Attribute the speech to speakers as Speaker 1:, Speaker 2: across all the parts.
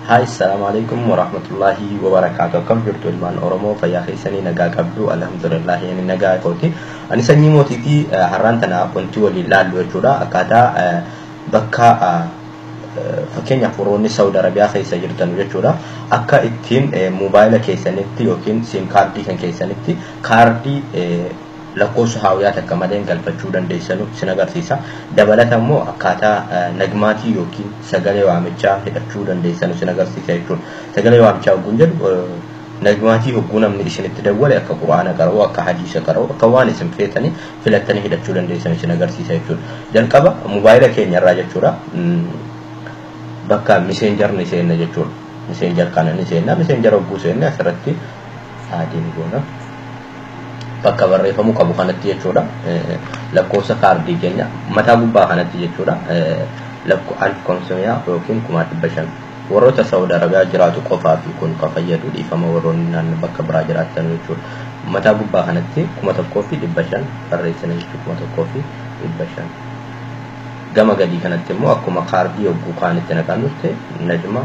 Speaker 1: Hi, Assalamu alaikum wa rahmatullahi wa barakatuh. Akkam jirtu ilmaan Oromoo fayyaa keessanii nagaa qabdu alhamdulillah inni nagaa kooti. Ani sanyii mootiitii har'aan tana wanti waliin laallu jechuudha. Akkaataa bakka fakkeenyaaf warroonni Saawud Arabiyaa keessa jirtan jechuudha. Akka ittiin moobaayila keessanitti yookiin siim kaardii kan keessanitti kaardii lakkoofsa haawiyaa takka maleen galfachuu dandeessanu isin agarsiisa. Dabalata immoo akkaataa nagmaatii yookiin sagalee waamichaa hidhachuu dandeessanu isin agarsiisa jechuudha. Sagalee waamichaa hogguun jedhu nagmaatii hogguu namni isinitti dawwale akka qur'aana qara'u, akka hadiisa qara'u, akka waan isin feetanii filattanii hidhachuu dandeessanu isin agarsiisa jechuudha. Jalqaba mobaayila keenya irraa jechuudha bakka miseenjar ni seenna jechuudha. Miseenjar kana ni seenna. Miseenjar hogguu seenne asirratti aadii ni goona. bakka barreeffamuu qabu kanatti jechuudha. Lakkoofsa kaardii keenya mataa gubbaa kanatti jechuudha. Lakko alf konsumiyaa yookiin kumaa dhibba shan. Warroota Saawud Arabiyaa jiraatu qofaa fi kun kan fayyadu dhiifama warroonni naannoo bakka biraa jiraattan jechuudha. Mataa gubbaa kanatti kuma tokkoo fi dhibba shan barreessina jechuudha kuma tokkoo fi dhibba shan. Gama gadii kanatti immoo akkuma kaardii yogguu kaanitti naqannutti najma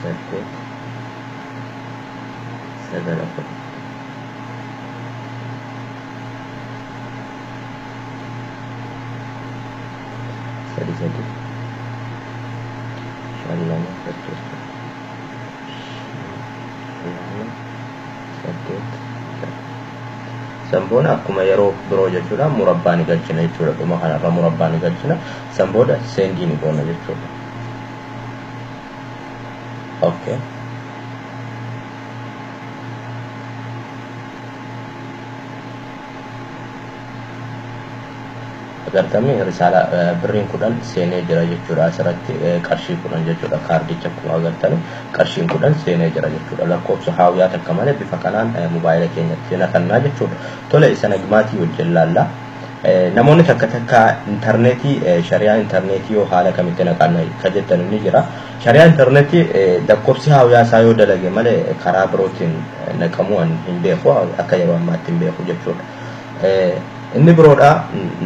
Speaker 1: saddeet sagal afur sadi sadi shan lama saddeet shan lama saddeet shan san booda akkuma yeroo biroo jechuudha murabbaa ni galchina jechuudha dhuma kanarra murabbaa ni galchina san booda seendii ni goona jechuudha. okay agartame risaala eh, birriin kudhan seenee jira jechuudha asirratti eh, qarshii kudhan jechuudha kaardicha akkuma agartame qarshiin kudhan seenee jira jechuudha lakkoofsa haawuyaa takka malee bifa kanaan eh, mobaayila keenyatti naqannaa jechuudha tole isa nagmaatii wajjin laallaa Namoonni takka takka intarneetii shari'aa intarneetii yoo haala kamitti naqanna ka jettan ni jira. Shari'aa intarneetii lakkoofsi haawiyaa isaa yoo dalage malee karaa birootiin naqamuu an hin beeku akka yeroo ammaatti hin beeku jechuudha. Inni biroodha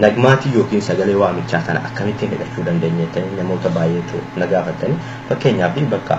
Speaker 1: nagmaatii yookiin sagalee waamichaa kana akkamittiin hidhachuu dandeenya jettanii namoota baay'eetu na gaafattanii fakkeenyaaf bakka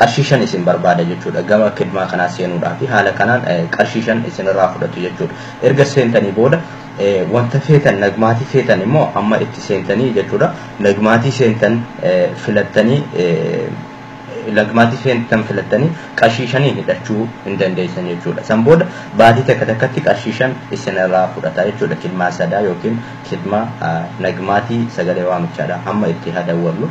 Speaker 2: qarshii shan isin barbaada jechuudha. Gama kidmaa kanaa seenuudhaafi haala kanaan qarshii shan isinirraa fudhatu jechuudha. Erga seentanii booda wanta feetan nagmaatii feetan immoo amma itti seentanii jechuudha. Nagmaatii seentan filattanii nagmaatii seentan filattanii qarshii shaniin hidhachuu hin dandeessan jechuudha. San booda baatii takka takkatti qarshii shan isinirraa fudhata jechuudha. Kidmaa sadaa yookiin kidmaa nagmaatii sagalee waamichaadha. Amma itti hadawwallu.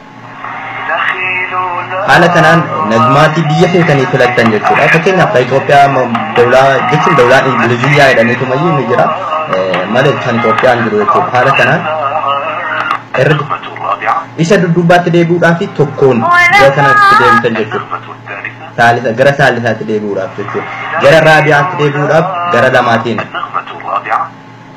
Speaker 1: Haala kanaan nagmaatii biyya feetanii filattan jechuudha. Fakkeenyaaf Itoophiyaa dawlaa jechuun dawlaa Ingiliziyyaa jedhaniitu mayyuu ni jira. Malee kan Itoophiyaan jiru jechuudha. Haala kanaan
Speaker 2: erga isa dudduubaatti
Speaker 1: deebi'uudhaa fi tokkoon gara kanatti deebitan jechuudha. Saalisa gara saalisaatti deebi'uudhaaf jechuudha. Gara raabiyaatti deebi'uudhaaf gara lamaatiin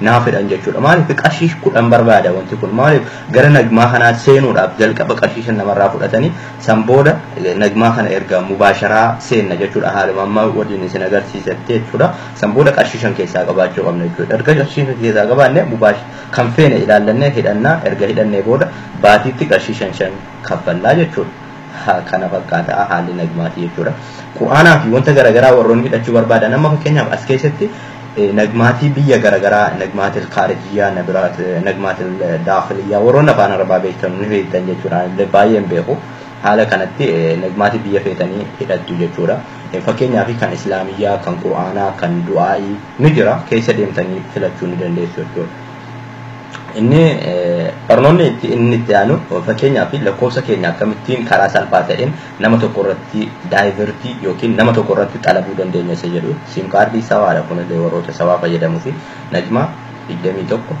Speaker 1: naa fedhan jechuudha. Maaliif qarshii kudhan barbaada wanti kun maaliif gara nagmaa kanaa seenuudhaaf jalqaba qarshii shan namarraa fudhatanii san booda nagmaa kana erga mubaasharaa seenna jechuudha haaluma amma waliin isin agarsiisetti jechuudha. San booda qarshii shan keessaa qabaachuu qabna jechuudha. Erga qarshii shan keessaa qabaanne mubaash kan feene ilaallannee hidhannaa erga hidhannee booda baatiitti qarshii shan shan kaffallaa jechuudha. kana fakkaata haalli nagmaatii jechuudha. Qur'aanaa fi wanta garaagaraa warroonni hidhachuu barbaadan amma fakkeenyaaf as keessatti nagmaatii biyya garaagaraa nagmaatil kaarijiyyaa nabiraat nagmaatil daakiliyyaa warroonni afaan arabaa beektan ni beektan jechuudha illee baay'een beeku haala kanatti nagmaatii biyya feetanii hidhattu jechuudha. Fakkeenyaaf kan islaamiyyaa kan qur'aanaa kan du'aa'ii ni jira keessa deemtanii filachuu ni dandeessu jechuudha. Inni barnoonni itti inni itti aanu fakkeenyaa fi lakkoofsa keenya akkamittiin karaa salphaa ta'een nama tokko irratti daayivertii yookiin nama tokko irratti xalabuu dandeenya isa jedhu siim kaardii sawaadha kunillee warroota sawaa fayyadamuu fi najmaa 21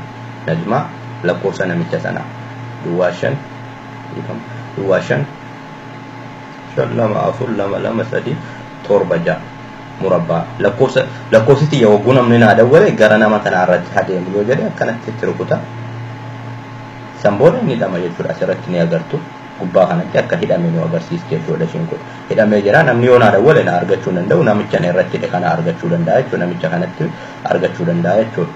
Speaker 1: najmaa lakkoofsa namicha sanaa duwwaa shan duwwaa shan shan lama afur lama lama sadii torba ja'a murabbaa. Lakkoofsa lakkoofsi tiyya hogguu namni naa dawwale gara nama kanaa irratti haa deemu yoo jedhe akkanatti itti rukuta. San booda inni hidhama jechuudha asirratti ni agartu. Gubbaa kanatti akka hidhame nu agarsiisa jechuudha ishiin kun. Hidhamee jira namni yoo naa dawwale na argachuu hin danda'u namicha na irratti hidhe kana argachuu danda'a jechuudha namicha kanatti argachuu danda'a jechuudha.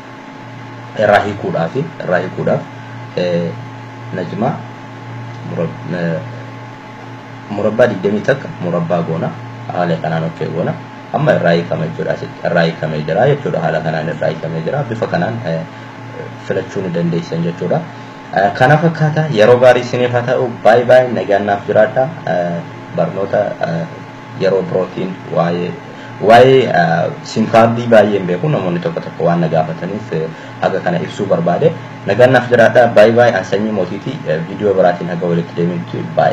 Speaker 1: Irraa hiikuudhaaf irraa hiikuudhaaf najmaa murab murabbaa 20 takka murabbaa goona haala kanaan ok goona amma irraa hiikama jechuudha asitti irraa hiikamee jira jechuudha haala kanaan irraa hiikamee jira bifa kanaan filachuu ni dandeessan jechuudha kana fakkaata yeroo gaarii isiniif haa ta'u baay baay nagaan naaf jiraadha barnoota yeroo birootiin waa'ee waa'ee simkaardii baay'een beeku namoonni tokko tokko waan na gaafataniif Haga kana ibsuu barbaade. Nagaan naaf jiraadhaa by by an sanyii mootiiti video biraatiin haga walitti deebinutti by.